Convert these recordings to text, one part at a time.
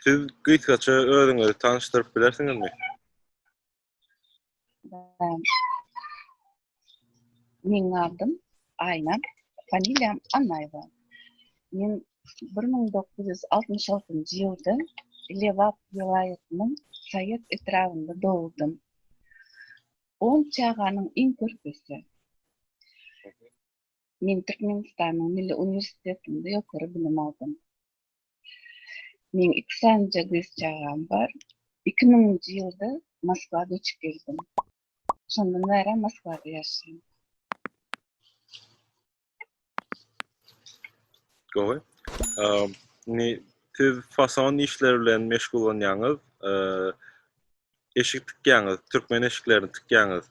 Siz gysgaça özüňizi tanyşdyryp bilersiňizmi? Meň adym Aýna, familiýam Annaýewa. Men 1966-njy ýylda Lebap welaýatynyň Saýat etrabynda dogdum. On çaganyň iň körpüsi. Men Türkmenistanyň Milli uniwersitetinde ýokary bilim aldym. Meň iki sanyja gyz çagam bar. Iki müňünji ýylda Moskwa göçüp geldim. Şondan bärem Moskwada ýaşaýan. Gowy. Indi siz fason işleri bilen meşgullanýaňyz, eşik tikýäňiz, türkmen eşiklerini tikýäňiz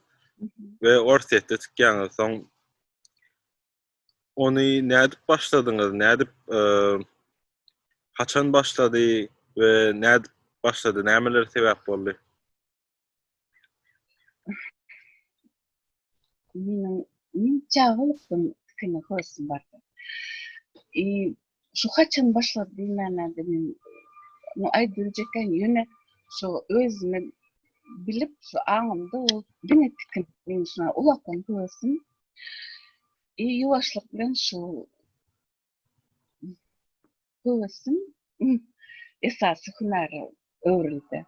we Orsýetde tikýäňiz. Soň ony nädip başladyňyz? Nädip e, haçan başlady we nädip başlady? Nämeler sebäp boldy? Meniň men çagalykdan tikini körsüm bardy. E, Şu haçan başlady diýmänlerde men muny aýdybiljekkäm ýöne şu özüme bilip şu aňymda ol diňe tikin men şuna ulaklaň höwesdim. E, ýuwaşlyk bilen şu höwesdim esasy hünäre öwrüldi.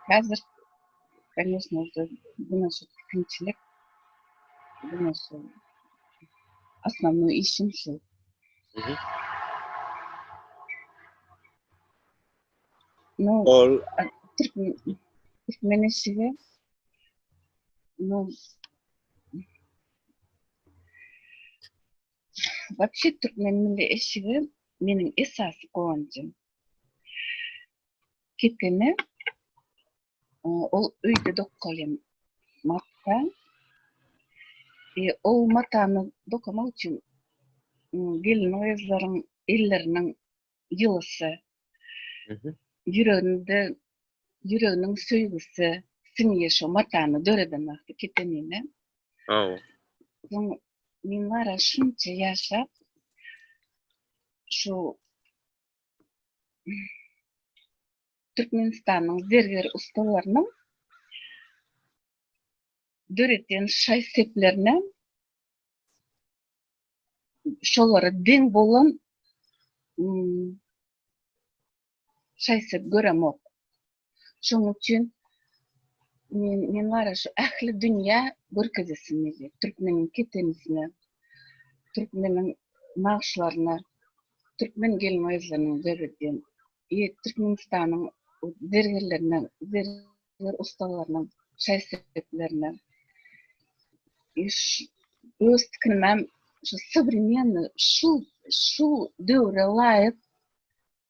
Häzir, kanyýesna, şu günäsi kynçylyk, günäsi, asmanly işim şu. No, Ol... Türkmen eşigi, no, Bakşy Türkmen milli eşigi, meniň esasy gowanjym. Kepeme ol öýde dokalýan matka. E, o matany dokamak üçin gelin gyzlaryň elleriniň ýylysy, ýüreginde ýüreginiň söýgüsi siňýär şo matany döreden wagty kepemine. Aw. Soň men wara şunça ýaşap şu Türkmenistanyň zerger ussalarynyň döretýän şaý-seplerine şolara deň bolan şaý-sep göremok. Şonuň üçin men men wara şu ähli dünýä görkezesim gelýär. Türkmeniň ketenisine, türkmeniň nagşlaryna, türkmen gelin-gyzlarynyň döredýän, e, Türkmenistanyň zergerlerine, zerger ussalarynyň şaý-seplerine. Iş öz tikinimem şu sowremenniý, şu şu döwre laýyk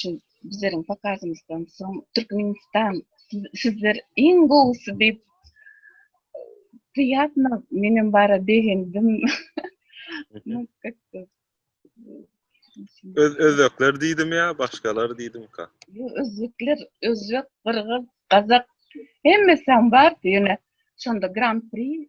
şu bizleriň pokazymyzdan soň Türkmenistan sizler iň gowusy diýip diýýärmi? Men hem bara begendim. Öz özbekler diýdim ýa başgalar diýdimka? Ýok, özbekler, özbek, gyrgyz, gazak hemmesi hem bardy ýöne şonda Gran-pri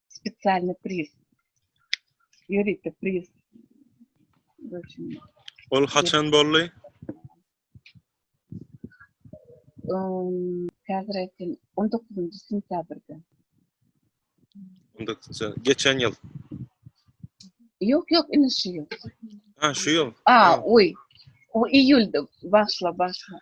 Spesialny priz. Ýörite priz. Ol haçan boldy? Häzir aýtdym, 19-njy sentýabrda. 19-njy, geçen ýyl. Ýok, ýok, indi şu ýyl. Ha, şu ýyl. A, oý. O iýulda başla, başla.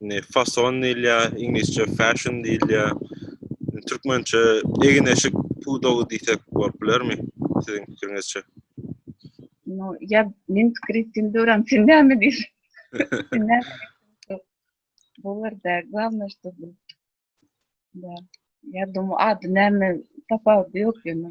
Indi fason diýilýär, iňlisçe fashion diýilýär. Türkmençe egin-eşik pudagy diýsek bolup bilermi siziň pikiriňizçe? No, ýa men pikir etdim döwran sen näme diýsen. Bolarda glawna şo bu. Da. Ýa dum ady näme tapawudy ýok ýöne.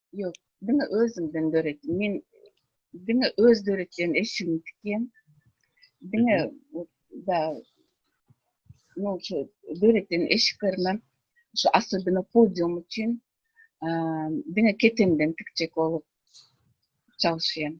Yok, diňe özümden döretdim. Men diňe öz döretýän eşigimi tikýän. Diňe da no şu döretýän eşiklerime şu asyldyna podium üçin diňe ketenden tikjek bolup çalışýan.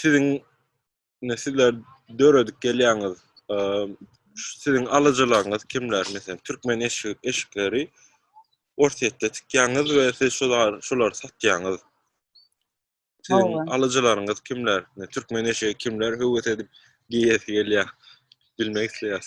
siziň sizler döredip gelýäňiz siziň alyjylaryňyz kimler meselem türkmen eşik eşikleri Orsýetde tikýäňiz we siz şular şulary satýaňyz siziň alyjylaryňyz kimler türkmen eşigi kimler höwes edip geýesi gelýär bilmek isleýäs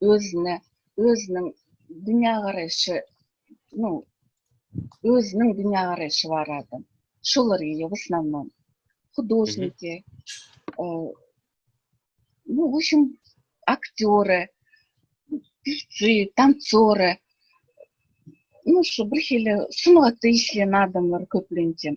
özüne, özüniň dünýägaraýşy, nu, özüniň dünýägaraýşy barada şolar geýýär bu slandan. Hudožniki, e, nu, wuşim, aktýory, pifci, tansory, nu, şu birhili sungatda işleýän adamlar köplenç hem.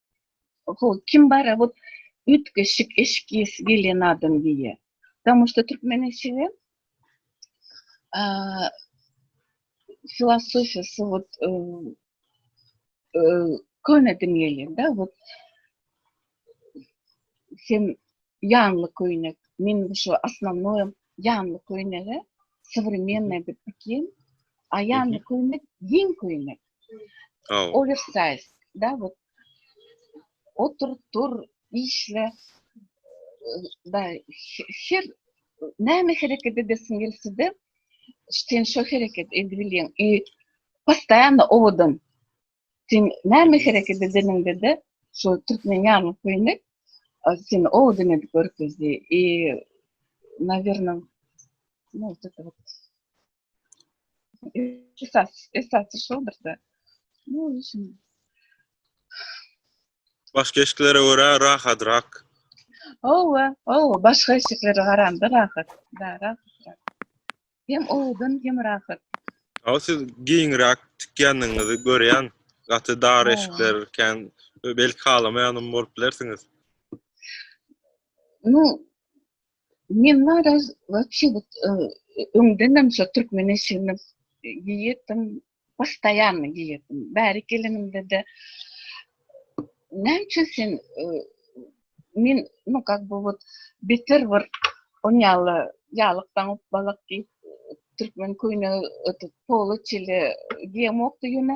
kim bara bu üýtgeşik eşik giýesi gelýän adam diýýär. Damu şu türkmen eşigi filosofiýa suwut köne din gelýär-de, bu sen ýanly köýnek, men şu asnamnoýa ýanly köýnege, sowremennaý diýip dikin, a ýanly köýnek giň köýnek. Aw. Oversize. Dawut. Otur, dur, işle. Da, her näme hereket edesiň gelse-de, sen şo hereket edip bilýän. I postaýanna owadan. Sen näme hereket edeniňde-de, şo türkmen ýaly köýnek seni owadan edip görkezdi. I, nawerno, näme Esas, esasy şoldur-da. Bu işin. Başga eşiklere görä rahatrak. Owa, owa, başga eşiklere garanda rahat. Da, rahat. Hem owdan hem rahat. Aw siz giňrak tikýändigiňizi görýän. Gaty dar eşikler kän belki halamaýanam bolup bilersiňiz. Ну, Men wara wapşe bu öňdenem şo türkmen eşigini giýýärdim, postoýanno giýýärdim. Bärik gelenimde-de näme üçin sen men no kak bu wot beter bir on ýaly ýalykdan upbalak diýip türkmen köýnegi ötüp poly çili giýemokdy ýöne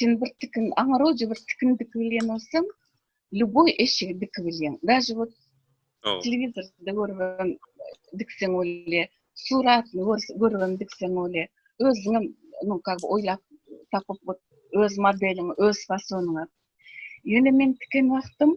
Sen bir tikin, aňaroja bir tikin dikip bilýän bolsaň, ljuboý eşigi dikip bilýän. Daže bot telewizorda görübem dikseň bolýar, suratyny görübem dikseň bolýar. Özüňem muny kak oýlap tapyp bot öz modeliňi, öz fasonyňy. Ýöne men tiken wagtym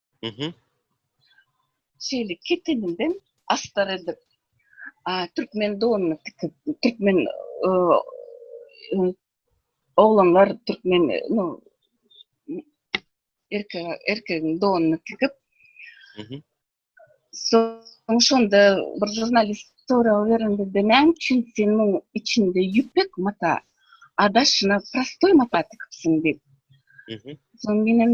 Mhm. Şeýle keteninden astar edip, türkmen donuny tikip, türkmen oglanlar türkmen erkek erkegiň donuny tikip. Mhm. Soň şonda bir jurnalist sorag berende de näme üçin sen muň içinde ýüpek mata adaşyna prostoý mata tikipsiň diýip. Soň men hem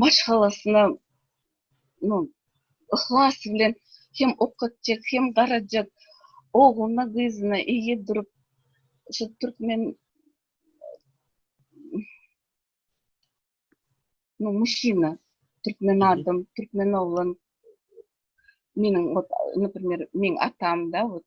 maşgalasyna no yhlas bilen hem okatjak hem garajak ogluna gyzyna eýe durup şu türkmen no muşina türkmen adam türkmen oglan meniň ot naprimer meniň atamda ot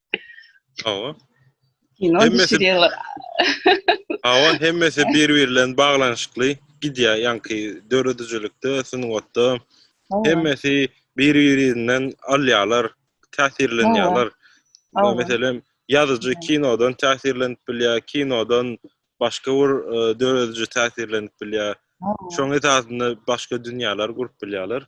Hawa. Kino düşürýärler. Hawa, hemmesi bir-biri bilen baglanyşykly gidýär, ýaňky döredijilikde, sungatda. Hemmesi bir-birinden alýarlar, täsirlenýärler. Meselem, ýazyjy kinodan täsirlenip bilýär, kinodan başga bir e, dörediji täsirlenip bilýär. Şoň esasynda başga dünýäler gurup bilýärler.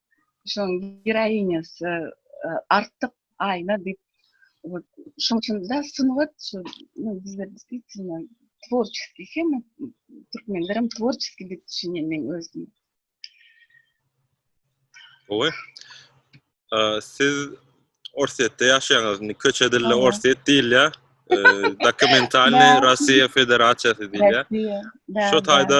şoň giraýinýasy artyk aýna diýip şoň üçin de sungat şu bizde diýsinler tworçeskiý hem türkmenler hem tworçeskiý diýip düşünýän men özüm Oý. Siz Orsýetde ýaşaýaňyz, indi köçe dilde Orsýet diýilýär. Dokumentalny Russiýa Federasiýasy diýilýär. Şu taýda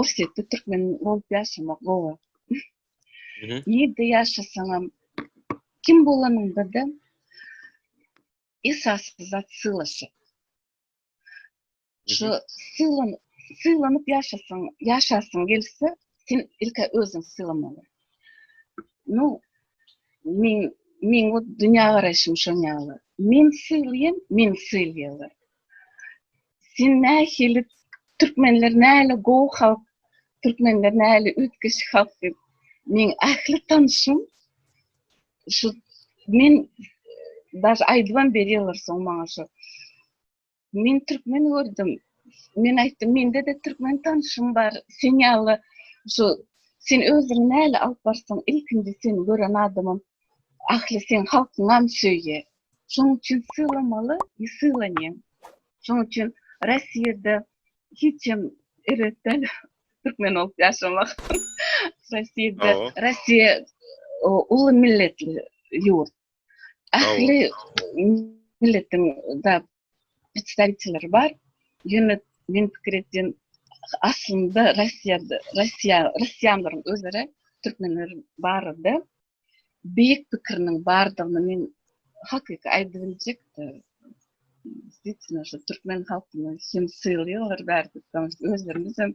Orsýetde türkmen bolup ýaşamak gowy. Ýerde ýaşasaňam kim bolanyňda-da esasy zat syllaşyk. Şu sylan sylanyp ýaşasaň, ýaşasyň gelse, sen ilki özüňi sylamaly. Nu men men bu dünýä garaýşym şoň ýaly. Men sylaýan, men sylaýarlar. Sen nähili türkmenler näle gowy halk, türkmenler näle üýtgeş halk diýip, men ähli tanşym şu men daş aýdybam berýärler soň maňa şu. Men türkmen gördüm. Men aýtdym, mende-de türkmen tanşym bar. Sen ýaly şu sen özüňi näle alyp barsaň, ilkinji seni gören adamym ähli seň halkyňam söýýär. Şonuň üçin sylamaly, sylanýan. Şonuň üçin Rossiýada hiç hem erbet däl türkmen bolup ýaşamak. Rossiýada, Rossiýa uly milletli ýurt. Ähli milletiň zat iç saýtylar bar. Ýöne meniň pikir etdim, aslynda Russiýada, Russiýa, Russiýanlaryň özara türkmenler barada beýik pikiriniň bardygyny men hakyky aýdyp biljek. Diýsene, şu türkmen halkyna hem sylaýarlar bärde, özlerimiz hem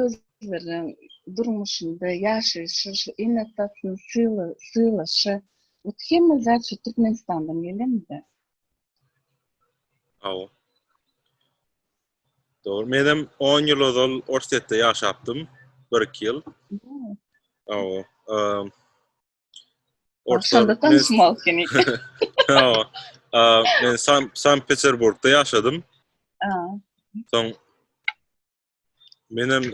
özleriniň durmuşynda ýaşaýşy şu iň esasy syla sylaşa ot hemme zat şu türkmenistandan gelenmide awa Dogry, men hem 10 ýyl ozal Orsýetde ýaşapdym, 1-2 ýyl. Awa, Orta Şonda tanışmaly seni. Ýa. Men San Sankt Peterburgda ýaşadym. Soň menem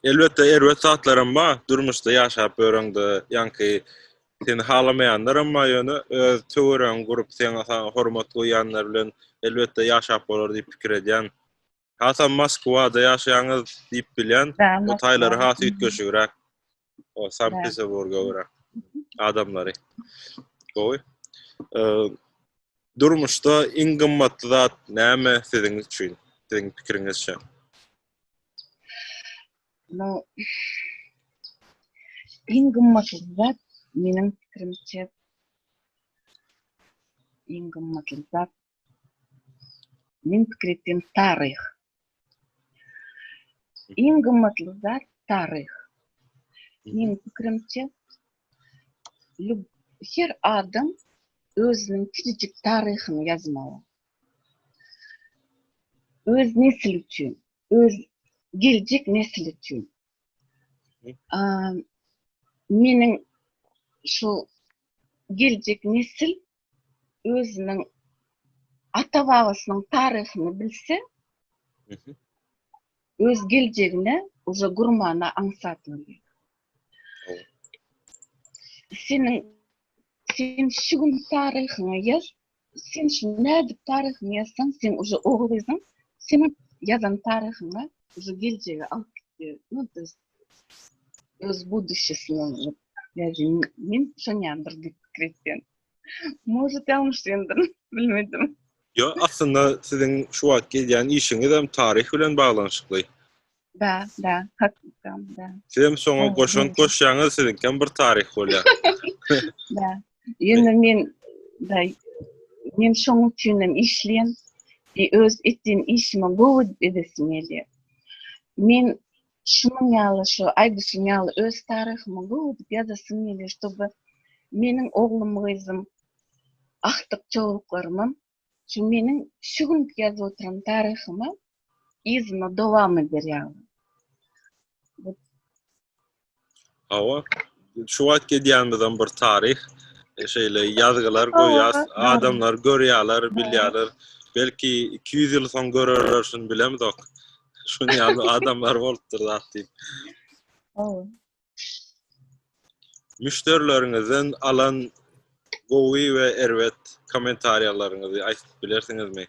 elbetde erbet zatlarym bar. Durmuşda ýaşap ýöreňde ýanky seni halamaýanlar hem bar ýöne öz töweregiňi gurup seňe hormat goýýanlar bilen elbetde ýaşap bolar diýip pikir edýän. Hasam Moskwada ýaşaýaňyz diýip bilýän. O taýlary has üýtgeşigräk. O Sankt Peterburga görä. Adamlary. Gowy. Durmuşda iň gymmatly zat näme siziň üçin? Siziň pikiriňizçe? No. Iň gymmatly zat meniň pikirimçe iň gymmatly zat Men pikir etdim taryh. Iň gymmatly zat taryh. Meniň pikirimçe her adam özüniň kiçijik taryhyny ýazmaly. Öz nesil üçin, öz geljek nesil üçin. Meniň şu geljek nesil özüniň ata babasynyň taryhyny bilse, öz geljegine uza gurmana aňsat bolýar. Seniň sen şu gün taryhyňy ýaz, sen şu nädip taryhyňy ýazsaň, sen uza ogul gyzyň seniň ýazan taryhyňy uza geljege alyp gitýär. Öz buduçesini alyp, ýajyň men şonýandyr diýip pikir etýän. Может, ýalňyşdyndyr, bilmedim. Ýo, aslynda siziň şu wagt gelýän işiňizem taryh bilen baglanyşykly. Bä, bä, hakykdan, bä. Sizem şoňa goşant goşýaňyz, siziňkem bir taryh bolýar. Bä, ýöne men, bä, men şoň üçinem işleýän, bir öz etýän işime gowy edesim gelýär. Men Şunuň ýaly şu aýdyşyň ýaly öz taryhymy gowy edip ýazasym gelýär. Şoba meniň oglum-gyzym, agtyk çowluklarymam şu meniň şu günki ýazyp oturan taryhyma, yzyna dowam eder ýaly. Hawa. Şu wagt gidýänimizem bir taryh. Şeýle ýazgylar goýýas, adamlar görýärler, bilýärler. Belki iki ýüz ýyl soň görerler şuny bilemzok. Şuny ýaly adamlar bolupdyr zat diýip. Hawa. Müşderileriňizden alan gowy we erbet kommentariýalaryňyzy aýtyp bilersiňizmi?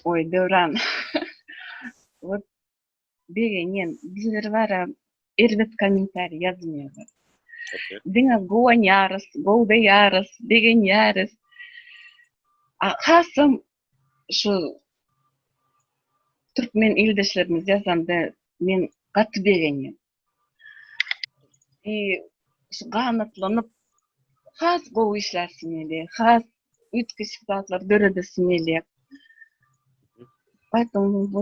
Oý Döwran. Begenýän. Bizler bara erbet kommentariý ýazmaýarys. Diňe guwanýarys, gowdaýarys, begenýäris. Hasam şu türkmen ildeşlerimiz ýazanda men gaty begenýän. I şu ganatlanyp has gowy işlärsiň ýaly, has üýtgeşik zatlar döredesiň gelýär. Aýtmagyň bu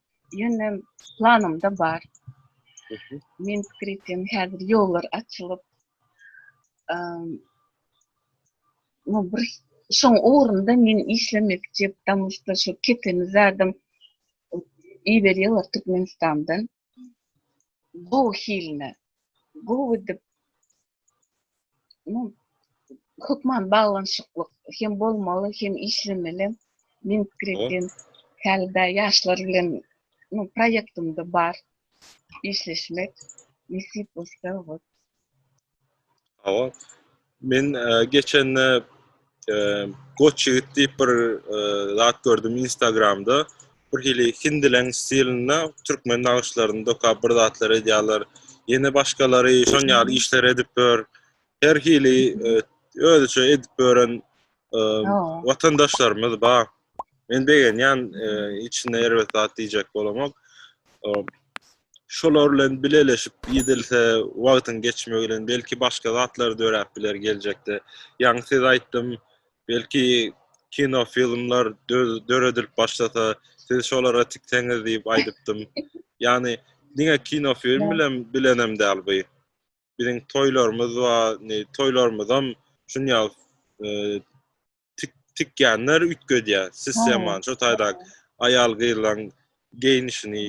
Ýöne planymda bar. Men pikir etýän häzir ýollar açylyp, no bir şoň ugrunda men işlemekçi, tam usta şu keteni zadam iberýärler Türkmenistandan. Bu hilini gowy edip hökman baglanyşyklyk hem bolmaly hem işlemeli men pikir etdim hälde ýaşlar bilen no proýektimde bar işleşmek nesip bolsa wot Awa, Men geçende goç ýigit diýip bir zat gördüm Instagramda. Bir hili hindileň stilinde türkmen nagyşlaryny dokap bir zatlar edýärler. Ýene başgalary şon ýaly işler edip ýör. Her hili özüçe edip ýören watandaşlarymyz bar. Men begenýän e, içinde erbet zat diýjek bolamok. Şolar bilen bileleşip gidilse, wagtyň geçmegi bilen belki başga zatlar döräp biler geljekde. Ýaňy siz aýtdym, belki kino filmler döredilip başlasa, siz şolara tikseňiz diýip aýdypdym. Ýani diňe kino film bilen bilenem däl bu. biziň toýlarymyz we ne toýlarymyzam şunýa e, tik tikýänler üýtgedýär sistema şu taýda aýal gyzlaryň geýnişini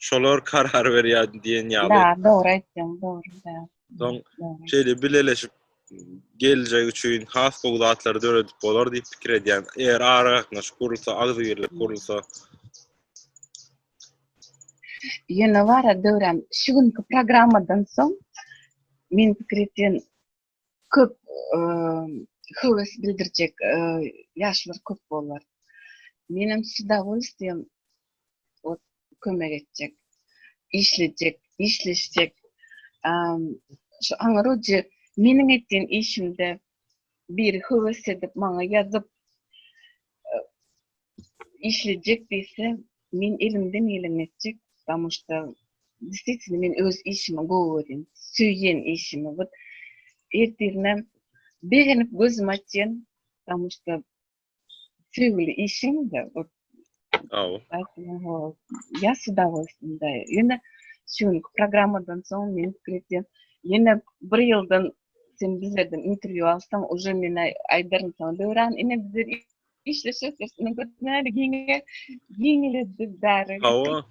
şolar karar berýär diýen ýaly. Da, dogry aýtdyň, dogry da. Soň şeýle bileleşip geljek üçin has gowy zatlary döredip bolar diýip pikir edýän. Eger ara gatnaşyk gurulsa, agzybirlik gurulsa. Ýöne bara Döwran, şu günki programmadan soň men pikir etýän köp höwes bildirjek ýaşlar köp bolar. Menem s udowolstwiýem ot kömek etjek, işlejek, işleşjek. Şu aňyrujy meniň etýän işimde biri höwes edip maňa ýazyp işlejek diýse men elimden geleni etjek damoşda distitini men öz işimi gowy görýän söýýän işimi bir ertirine begenip gözüm açýan damoşda söýgüli işim de bir ya suda bolsun da ýöne şu günki programmadan soň men pikir etýän ýene bir ýyldan sen bizlerden intervýu alsaň, uje men aýdaryn saňa döwran ine bizler işleşe sesini götürmeli giňe giňledi bäri. Hawa.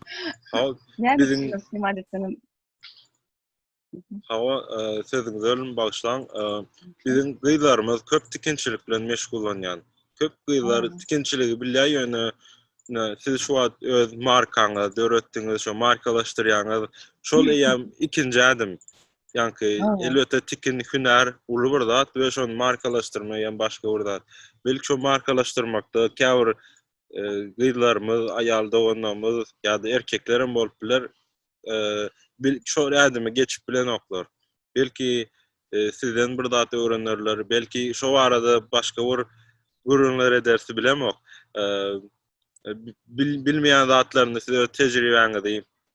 Hawa. Biziň imadetiniň Hawa, e, sözüňiz ölüm bagşlaň. E, biziň gyzlarymyz köp tikinçilik bilen meşgullanýan. Köp gyzlar tikinçiligi bilýär, ýöne siz şu wagt öz markaňyzy döretdiňiz, şu markalaşdyrýaňyz. Şol eýýäm ikinji ädim. Ýanki elbetde tikin hünär uly bir zat we şony markalaşdyrmak hem başga bir zat. Belki şu markalaşdyrmakda käbir e, gyzlarymyz, aýal doganlarymyz ýa-da erkekler hem bolup biler. E, bil şu ädimi geçip bilenoklar. Belki e, sizden bir zat öwrenerler, belki şu barada başga bir gürrüňler edersi bilemok. E, bil, bilmeýän zatlaryny size öz tejribäňizi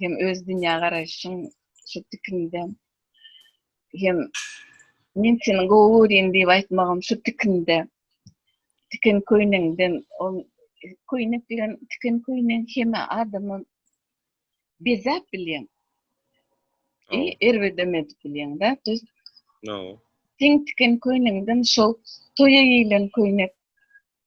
hem öz dünýä garaýşyň şu tikinden hem men seni gowy görýän diýip aýtmagym şu tikinde tikin köýnekden ol köýnek bilen tikin köýnek heme adamy bezäp bilýän e, erbedem edip bilýän da düz no. tikin köýnekden şol toýa giýilen köýnek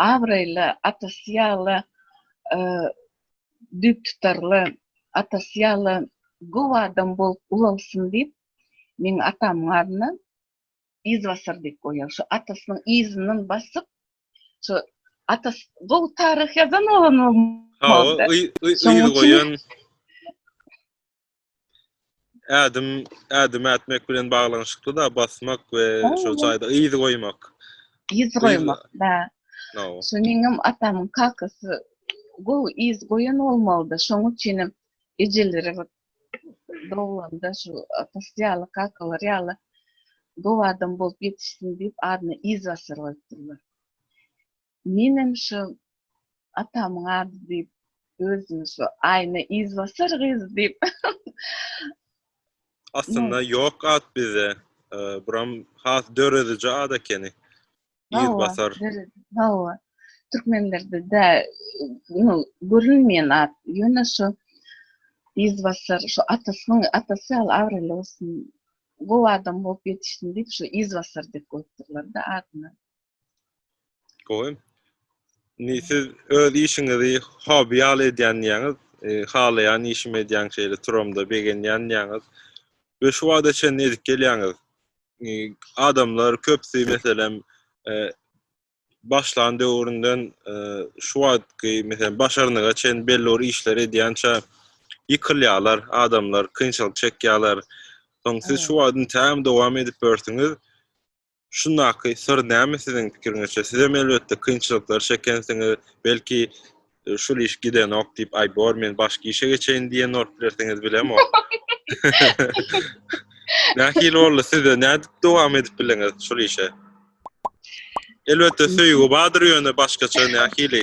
abraýly, atasy ýaly düýptutarly, atasy ýaly gowy adam bolup ulalsyn diýip, meň atamyň adyna Yzbasar diýip goýýar. Şu atasynyň yzyndan basyp, şu atasy gowy taryh ýazan bolan bolmalydy. Hawa, yz goýan. ädim ädim ätmek bilen baglanyşykly da basmak we şo jaýda yz goýmak. Yz goýmak, da. Şu meňem atamyň kakasy gowy yz goýan bolmalydy. Şoň üçin hem ejeleri bir dowlanda şu atasy ýaly, kakalar ýaly gowy adam bolup ýetişsin diýip adyna yz basar goýupdyrlar. Menem şu atamyň ady diýip özümi şu aýna yzbasar gyz diýip Aslynda ýok at bizde. Buram has dörediji at ekeni. Yzbasar. Hawa. Türkmenlerde de no görülmeýän at. Ýöne şu yzbasar şu atasynyň atasy ýaly abraýly bolsun. Gowy adam bolup ýetişsin diýip şu yzbasar diýip goýupdyrlar-da adyny. Goýun. Ni siz öz işiňizi hobi ýaly edýän diýäňiz, e, halaýan işimi edýän şeýle turamda begenýän diýäňiz. Ve şu wagta çenli edip gelýäňiz. E, adamlar köpsi meselem e, başlan döwründen e, şu wagtky meselem başarnyga çen belli bir işler edýänçä ýykylýarlar adamlar, kynçylyk çekýärler. Soň siz şu wagtyn täm dowam edip börsiňiz. Şundaky syr näme siziň pikiriňizçe? Sizem elbetde kynçylyklar çekensiňiz, belki şul iş gidenok diýip, aý bor men başga işe geçeýin diýen bolup bilersiňiz bilemok. Nähili boldy sizde? Nädip dowam edip bileňiz şul işe? Elbetde söýgi bardyr ýöne başgaça nähili?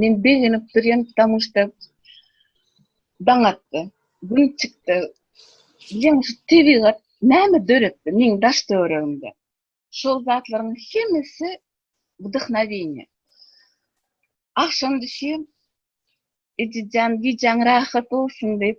Men begenip durýan ptamuşta daň atdy, gün çykdy. Bilýäňmi şu tebigat näme döretdi meň daş töweregimde. Şol zatlaryň hemmesi wdhnowieniýe. Agşam düşýän ejejan gijäň rahat bolsun diýip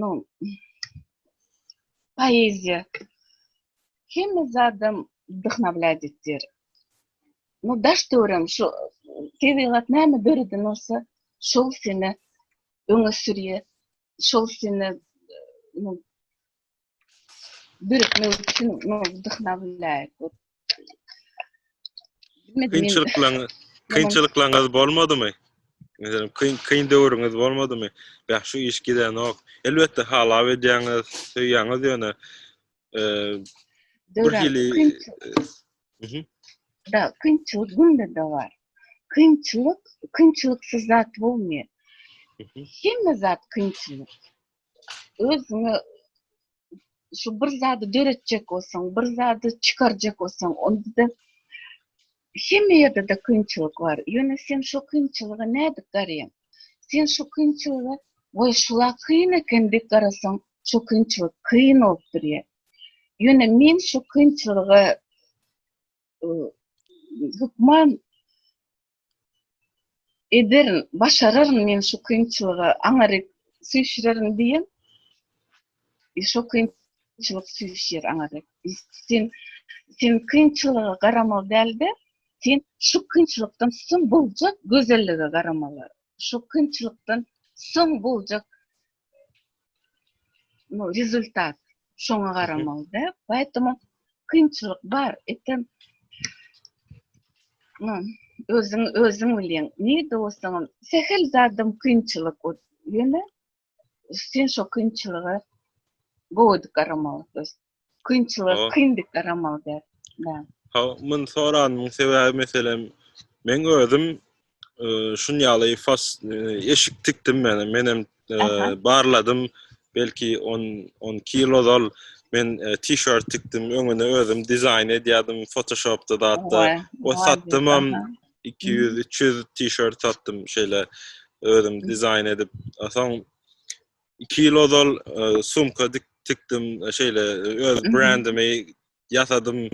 no poeziýa hemme zadam wdhnablýat etýär no daş döwrem şu tebigat näme döreden bolsa şol seni öňe sürýär şol seni no birikmek üçin dyhna biläýik. Kynçylyklaryň kynçylyklaryňyz bolmadymy? Meselem, kyn kyn döwrüňiz bolmadymy? Bäh, şu iş gidenok. Elbetde halap edýäňiz, söýýäňiz ýöne e, bir hili e, Da, kynçylyk günde de bar. Kynçylyk, kynçylyksyz zat bolmaýar. Hemme zat kynçylyk. özüňe şu bir zady döretjek bolsaň, bir zady çykarjak bolsaň, onda-da hemme ýerde de kynçylyk bar. Ýöne sen şu kynçylyga nädip garaýaň? Sen şu kynçylyga we şula kyn eken diýip garasaň, şu kynçylyk kyn bolup durýar. Ýöne men şu kynçylyga hökman ederin, başararyn men şu kynçylyga aňaryk süýşürerin diýen, şo kynçylyk süýşýär aňaryk. Sen, sen kynçylyga garamaly däl-de, sen şu kynçylykdan soň boljak gözellige garamaly. Şu kynçylykdan soň boljak ну, rezultat şoňa garamalyda. Poýtama kynçylyk bar. Etem no, özüň özüň bilýän. Ne dostum, sehel zadym kynçylyk. Ýöne sen şo kynçylyga gowy garamaly dostum. Kynçylyk, oh. kynlyklar amal eder. Ha, men soranymyň sebäbi meselem, men özüm e, şun ýaly fas e, eşik tikdim men, men hem e, barladım, belki 10 10 kilo dol men e, t-shirt tikdim, öňüne özüm dizaýn edýärdim Photoshopda da hatda. O satdym hem 200-300 t-shirt satdym şeýle özüm dizaýn edip. Soň 2 ýyl ozal sumka dik tikdim, şeýle öz brendimi ýasadym.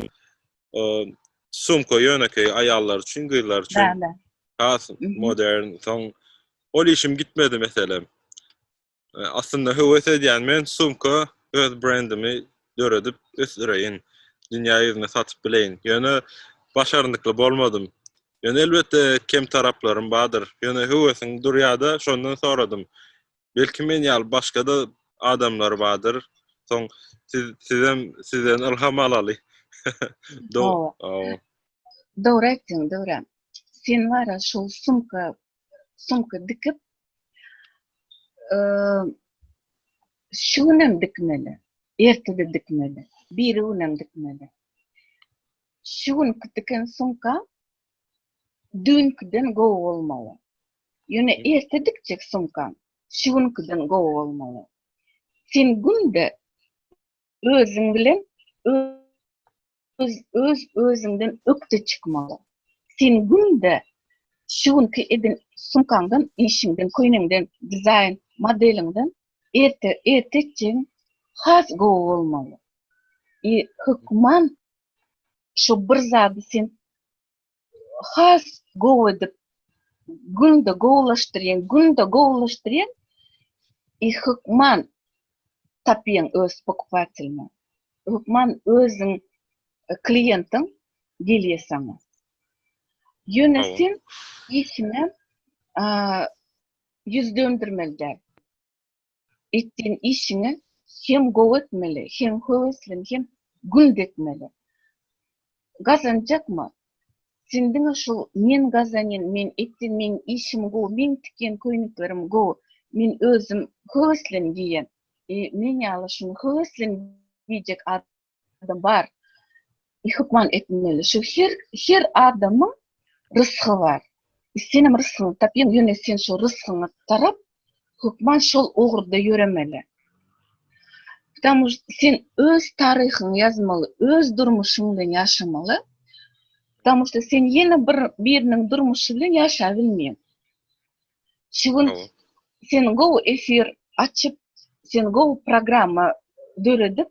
Sumka ýönekeý aýallar üçin, gyzlar üçin. Has modern. Soň ol işim gitmedi meselem. Aslynda höwes edýän men sumka öz brendimi döredip ösdüreýin. Dünýä ýüzüne satyp bileýin. Ýöne başarnykly bolmadym. Ýöne elbetde kem taraplarym bardyr. Ýöne höwesiň durýada şondan soradym. Belki men ýaly başga-da adamlar bardyr. Soň siz sizem sizden ylham alaly. Dogry. Dogry aýtdyň, dogry. Sen bara şu sumka sumka dikip şu günem dikmeli. Ertede dikmeli. Bir günem dikmeli. Şu gün diken sumka düýnkiden gowy bolmaly. Ýöne erte dikjek sumkaň şu günkiden gowy bolmaly. Sen günde özüň bilen öz öz özüňden ökde çykmaly. Sen günde şu günki eden sumkaňdan, işiňden, köýneňden, dizaýn modeliňden erte erte etjegiň has gowy bolmaly. I hökman şu bir zady sen has gowy edip günde gowulaşdyrýan, günde gowulaşdyrýan i hukman tapýan öz pokupatelini. Hukman özüň e, kliýentiň gelýär saňa. Ýöne sen işine ýüz döndürmeli däl. etdiýin işiňi hem gowy etmeli, hem höweslen, hem güld etmeli. Gazanjakmy? Sen diňe şu men gazanýan, men etýän, meň işim gowy, meň tikýän köýneklerim gowy, men özüm höweslen geýýän, e, men ýaly şuny höweslen geýjek adam bar. Hukman etmeli. Şu her her adamyň rysgy bar. Sen hem rysgyňy tap, ýöne sen şu rysgyňy tarap hukman şol ugurda ýöremeli. Tamam, sen öz taryhyňy ýazmaly, öz durmuşyň bilen ýaşamaly. Tamam, sen ýene bir biriniň durmuşy bilen ýaşap bilmeýän. Şu gün sen go efir açyp, sen go programma döredip,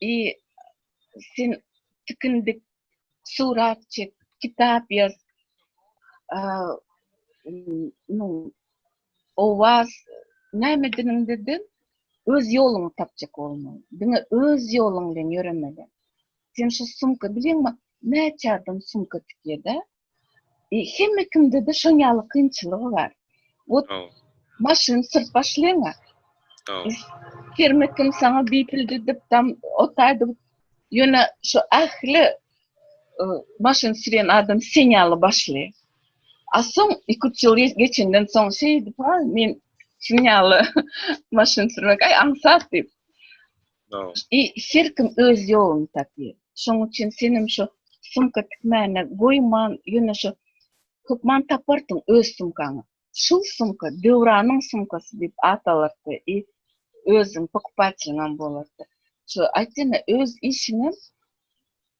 I sen tikin dik, surat çek, kitap ýaz, nu, owaz, näme diniňde-de öz ýoluňy tapjak bolmaly. Diňe öz ýoluň bilen ýöremeli. Sen şu sumka bilýäňmi, näçe adam sumka tikýär-dä? E, hemme kimde-de şoň ýaly kynçylygy bar. Ot maşyn syrt başlaýaňa. Kerme kim saňa bipildi dip dam otaýdy. Ýöne şu ähli e, maşyn sürýän adam sen ýaly başly. A soň 2-3 ýyl geçenden soň şeýdip, ha, men şuň ýaly maşyn sürmek, aý, aňsat diýip. I her kim öz ýoluny tapýar. Şoň üçin senem şo sumka tikmäne goýman ýöne şo hökman taparsyň öz sumkaňy. Şul sumka Döwranyň sumkasy diýip at alarsyda i özüň pokupaçylyňam bolardy. Şo aýt ýene öz işiňem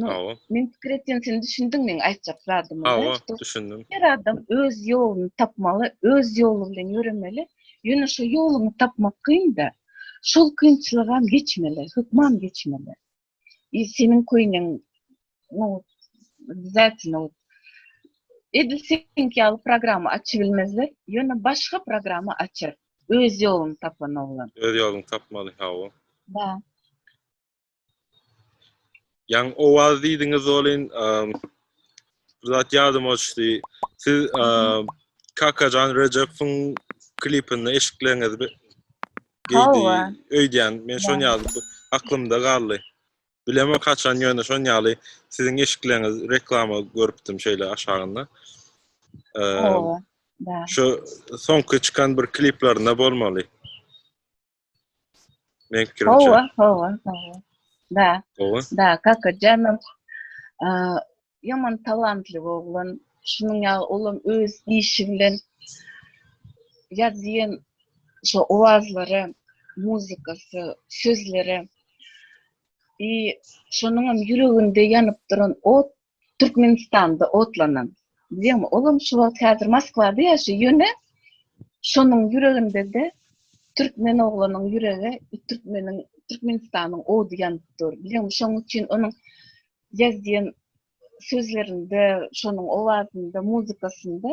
Hawa. Men pikir etdim, sen düşündiň meň aýtjak zadymy. Hawa, düşündim. Her adam öz ýoluny tapmaly, öz ýoly bilen ýöremeli. Ýöne şu ýoluny tapmak kyn-da. Şol kynçylygam geçmeli, hökman geçmeli. Ýa seniň köýneň no zatno. Edil seň ýaly programma açyp bilmezler, ýöne başga programma açar. Öz ýoluny tapan oglan. Öz ýoluny tapmaly, hawa. Ba. Ýaň owaz diýdiňiz welin, bir zat ýadyma düşdi. Siz Kakajan Rejepowyň klipinde eşikleňiz geýdi. Öýdýän, men şon ýaly aklymda galdy. Bilemok haçan ýöne şon ýaly siziň eşikleňiz reklama görüpdim şeýle aşagynda. Şu soňky çykan bir kliplerinde bolmaly. Men fikirimi Hova, çözüm. hova, hova. Da, Hova. da, kaka janym. Ä, Ýaman talantly oglan. Şunuň ýaly olam öz işi bilen ýazýan şu owazlary, muzykasy, sözleri. I şonuň hem ýüreginde ýanyp duran ot Türkmenistanda otlanan. Diýýäňmi, olam şu wagt häzir Moskwada ýaşaýar. Ýöne şonuň ýüreginde-de türkmen oglanyň ýürege türkmeniň, Türkmenistanyň ody ýanyp dur. Bilýäňmi, şonuň üçin onuň ýazýan sözlerinde, şonuň owazynda, muzykasynda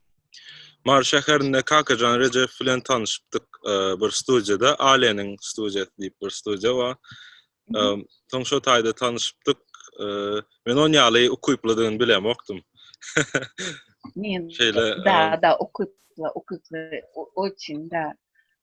Mary şäherinde Kakajan Rejew bilen tanyşypdyk bir studiýada, Aleniň studiýasy diýip bir studiýa bar. Soň şo taýda tanyşypdyk. Men on ýaly ukyplydygyny bilemokdym. Men şeýle da da ukyply, ukyply, oçin da.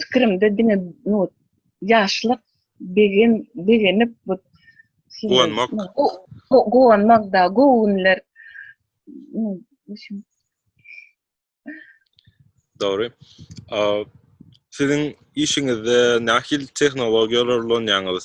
pikirimde diňe no ýaşlyk begen begenip bu guwanmak guwanmak da gowy günler Dogry. Siziň işiňizde nähil tehnologiýalar ulanýaňyz?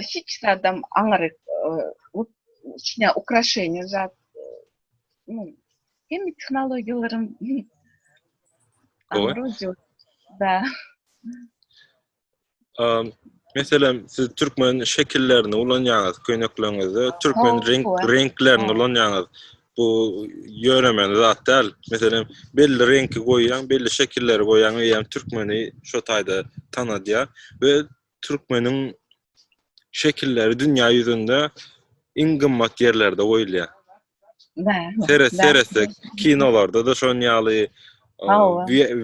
hiç zadam aňyryk içine ukraşeniýa zat hem tehnologiýalaryň aňyryk da Meselem, siz türkmen şekillerini ulanýaňyz köýnekleriňizde, türkmen renk renklerini ulanýaňyz. Bu ýöremeli zat däl. Meselem, belli reňki goýýaň, belli şekilleri goýýaň, eýýäm türkmeni şo taýda tanadýar we türkmeniň şekilleri dünýä ýüzünde iň gymmat ýerlerde goýulýar. Seret, seretde kinolarda da şon ýaly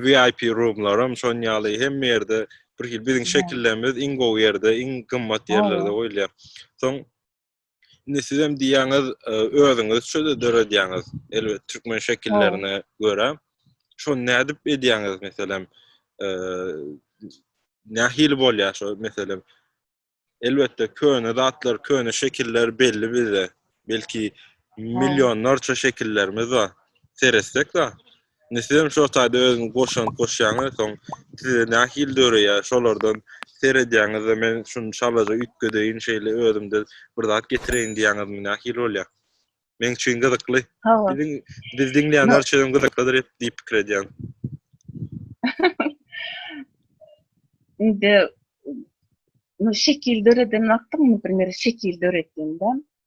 VIP roomlaram şon ýaly hem ýerde bir hil biziň şekillerimiz iň gowy ýerde, iň gymmat ýerlerde goýulýar. Soň Indi sizem diýýäňiz, e, özüňiz şöyle döredýäňiz. Elbet türkmen şekillerine görä. Şo nädip edýäňiz meselem? E, nähili bolýar şo meselem? Elbetde köne zatlar, köne şekiller belli bize. Belki millionlarça şekillerimiz bar. Seretsek da, Indi sizem şo taýda özüňiz goşant goşýaňyz soň size nähili döreýär şolardan seredýäňizde men şuny şalaja üýtgedeýin şeýle özümde bir zat getireýin diýýäňizmi nähili bolýar? Meň üçin gyzykly. Biziň bizi diňleýänler üçin hem gyzyklydyr diýip pikir edýän. Indi şekil döreden wagtyň, bir şekil döretdiňden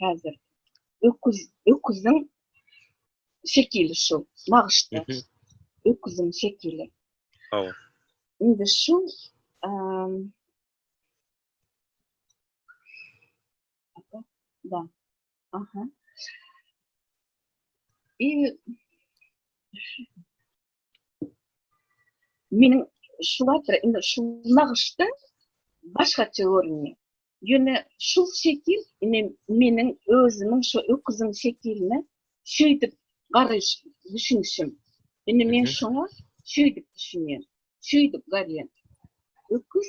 Häzir öküz öküziň şekili şu nagyşda. Öküziň şekili. Hawa. Indi şu da. Aha. I Meniň şu wagtda indi şu nagyşda başgaça göründi. Ýöne şu şekil indi meniň özümiň şu öküziň şekiline şeýdip garaýyş düşünişim. Indi men şoňa şeýdip düşünýän. Şeýdip garýan. Öküz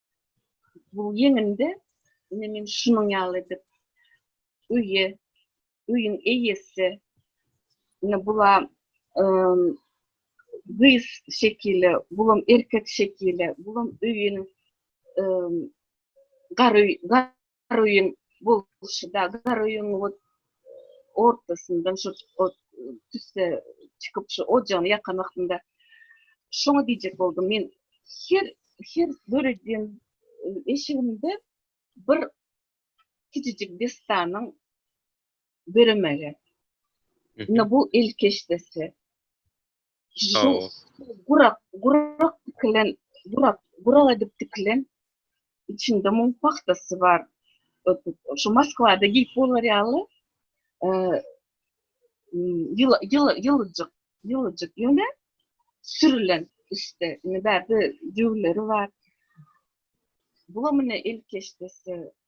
bu ýeňinde indi men şunuň ýaly edip öýe öýüň eýesi indi bula gyz şekili bulam erkek şekili bulam öýüniň gar Garybyň bolşy-da, Garybyň ot ortasyndan şu ot tüsse çykyp, şu ojagyny ýakan wagtynda şoňa diýjek boldum. Men her her döredýän eşigimde bir kiçijik dessanyň döremegi. Indi bu elkeş desse. Sag ol. Gurak, gurak dikilen, gurak, gurak edip dikilen içinde mum pahtasy bar. Şu Moskwada giyip bolar ýaly e, ýyl, ýyl, ýyljyk, ýyljyk ýöne sürülen üstte. Indi bärde jüwleri bar. Bulamyny ilkeşdesi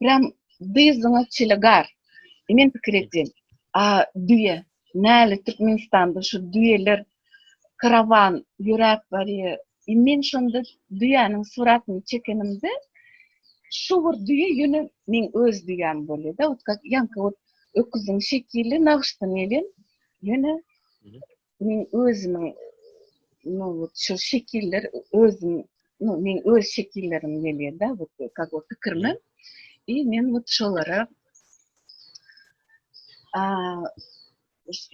Prem dyzyňa çili gar. Men pikir etdim. A düýe. Näle Türkmenistanda şu düýeler karawan ýöräp barýar. Men şonda düýäniň suratyny çekenimde şu bir düýe ýöne meň öz düýäm bolýar-da, otga ýaňky öküziň şekili nagyşdan gelen. Ýöne Men özümiň nowut şol şekiller özüm no men öz şekillerim gelýärda bu kak o pikirme i men wut şolara a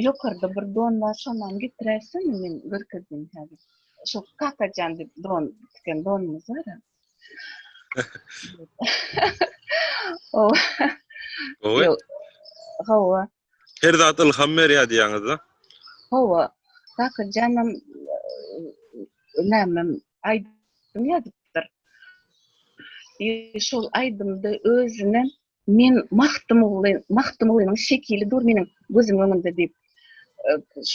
ýokarda bir don bar şondan getiräýsem men görkezdim häzir şo kakajan diýip don diken donumyz bar o o hawa Her zat ylham berýär diýýäňiz-de. Hawa. Bakyrjanam nämem aýdym ýazypdyr. Şol aýdymda özüne men Magtymguly, Magtymgulynyň şekili dur meniň gözümiň öňünde diýip,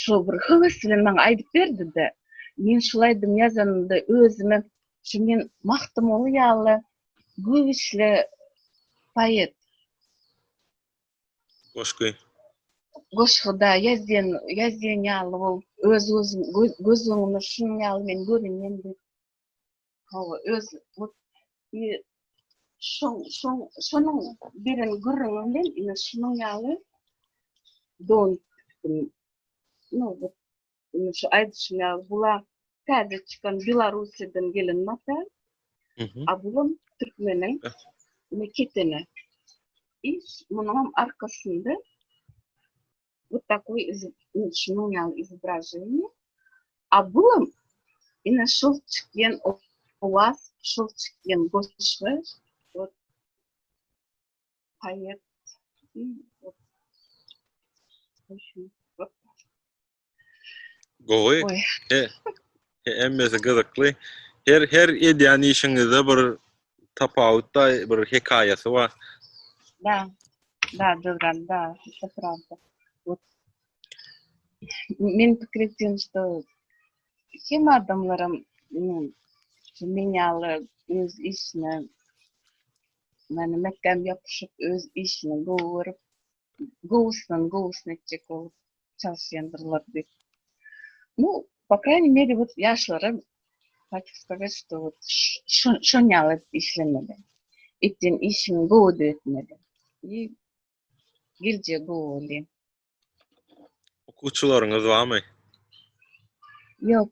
şo bir höwes bilen maňa aýdyp berdi-de. Men şol aýdymy ýazanymda özüme şu men Magtymguly ýaly güýçli poet, Goşgy. Goşgyda ýazýan, ýazýan ýaly bol. Öz gözüm, göz öňüme şunuň ýaly men görünýän diýip. Hawa, öz bu şoň, şoň, şonuň beren gürrüňi bilen ine şunuň ýaly don tikdim. No, indi şu aýdyşym ýaly bular täze çykan Belarusýadan gelen mata. A bulam türkmeniň ne ketene. Iş munuň arkasynda bu takoý şunuň ýaly izobraženiýe. A bulam ine şol çykýan owaz, şol çykýan goşgy Hayat. Gowy. He. Hemmesi gyzykly. Her her edýän işiňizde bir tapawut da bir hekaýasy bar. Da. Da döwran da. Şu prawda. Men pikir etdim, что kim adamlarım men yalı öz işine Meni mäkäm ýapyşyp öz işini gowy görüp gowusdan gowusyny etjek bolup çalyşýandyrlar diýip. Bu po kraýny meri bu ýaşlara Haýt Hudaýa şuda bolup şon ýaly işlemeli. Etýän işini gowy edip etmeli. Geljegi gowy bolýa. Okuwçylaryňyz barmy? Ýok.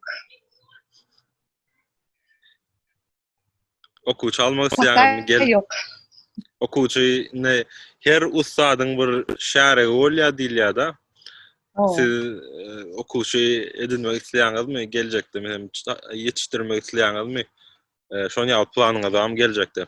Okuwçy almak isleýän gel. Ýok. Okuwçy ne her ussadyň bir şäregi bolýar diýilýär-de. Siz e, okuwçy edinmek isleýäňizmi? Geljekde hem ýetişdirmek isleýäňizmi? E, şonuň ýaly planyňyz hem geljekde.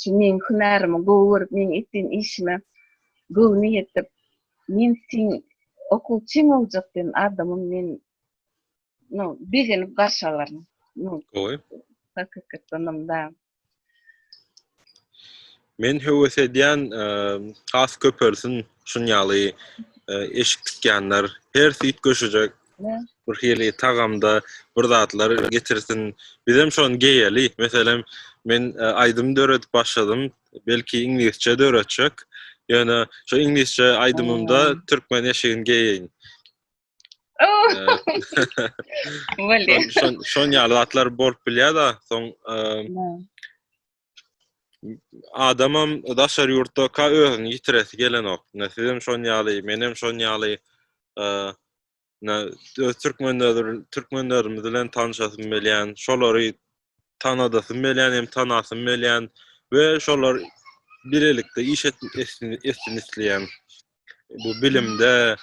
şu meniň hünärimi gowy görüp, meniň etdiýän işime göwni ýetip, men seniň okuwçyň boljak diýen adamym meni no, begenip garşy alar. No, Gowy. Hakykatdanam da. Men höwes edýän has köpelsin şun ýaly eşik tikýänler, her süýt göşejek bir hili tagamda bir zatlar getirsin. Bizem şon geýeli. Meselem, men e, aýdym döredip başladym. Belki iňlisçe döretjek. Ýöne şu iňlisçe aýdymymda hmm. türkmen eşigini geýeýin. Oh. Şon şon ýaly zatlar bolup bilýär-de, soň e, adamam daşary ýurtda ka özüni ýitiresi gelenok. Ne sizem şon ýaly, menem şon ýaly. Ne öz türkmenler türkmenlerimiz bilen tanşasym gelýän, şolary tanadasym gelýän, hem tanasym gelýän we şolar bilelikde iş etsin isleýän. Bu bilimde,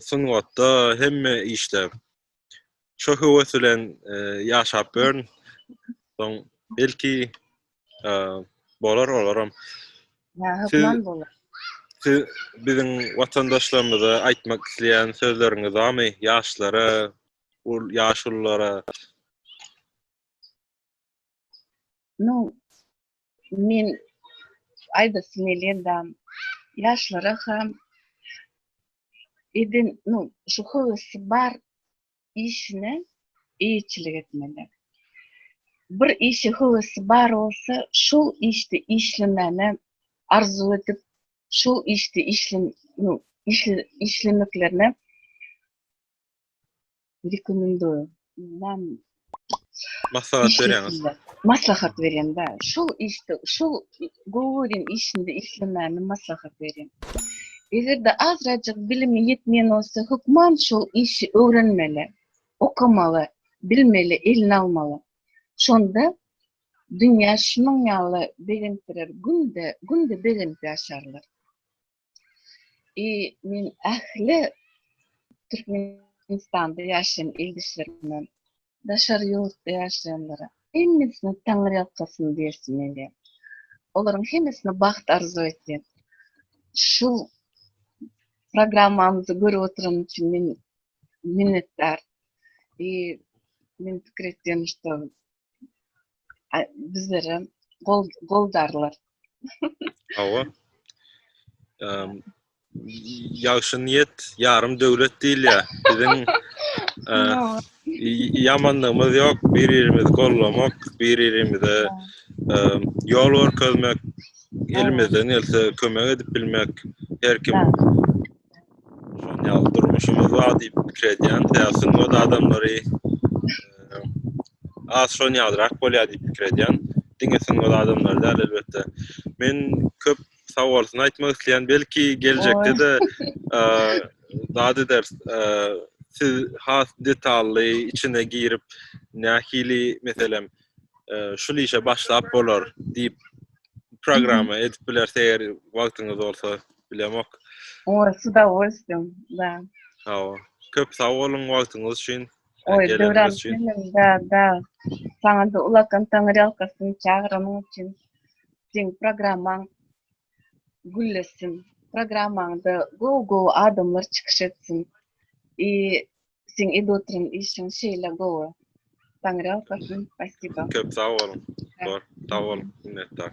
sungatda hemme işde. şo höwes bilen ýaşap görn. Soň belki bolar olaram. Ýa hökman bolar. Siz biziň watandaşlarymyza aýtmak isleýän sözleriňiz barmy? Ýaşlara, ul ýaşulylara. Nu, Men aýdasym gelýän-da, ýaşlara hem eden, nu, şu höwesi bar işine eýeçilik etmeli. Bir işe höwesi bar bolsa, şol işde işlemäne arzuw edip, şol işde işle, nu, işle, işlemeklerine Rekomendo. Näm? Maslahat berýäňiz. Maslahat berýän bä. Şu işde, şu goworin işinde işlemäni maslahat berýän. Eger-de azrajyk bilimi ýetmeýän bolsa, hökman şu işi öwrenmeli, okamaly, bilmeli, eline almaly. Şonda dünýä şunuň ýaly begendirer, günde, günde begenip ýaşarlar. I men ähli Türkmenistanda ýaşaýan ildeşlerime, daşar ýurtda ýaşaýanlara hemmesine Taňry ýalkasyn bersin diýýän. Olaryň hemmesine bagt arzuw etýän. Şu programmamyzy görüp oturan üçin men minnetdar. I men pikir etýän, bizlere gol goldarlar. Hawa. Ehm ýagşy niýet ýarym döwlet diýilýär. Biziň ýamanlygymyz ýok, bir-birimizi gollamak, bir-birimize ýol görkezmek, elimizden gelse kömek edip bilmek, her kim Şonda ýaly durmuşymyz bar diýip pikir edýän, täsin we adamlary az şon ýalyrak bolýar diýip pikir edýän. Diňe sungat adamlary däl elbetde. Men köp sawalsyny aýtmak isleýän, belki geljekde de zat eder. Siz has detally içine girip, nähili meselem şul işe başlap bolar diýip programma edip biler, eger wagtyňyz bolsa. bilemok. Oý, s u bolsun, da. Hawa. Köp sag boluň wagtyňyz üçin. Oý, Döwran, da, saňa-da ulakan taňyrýalkasyn çagyranyň üçin. Seň programmaň güllesin. Programmaňda gowy-gowy adamlar çykyş etsin. I seň edip oturan işiň şeýle gowy. Taňyrýalkasyn, spasiba. Köp sag boluň. Sag boluň, minnetdar.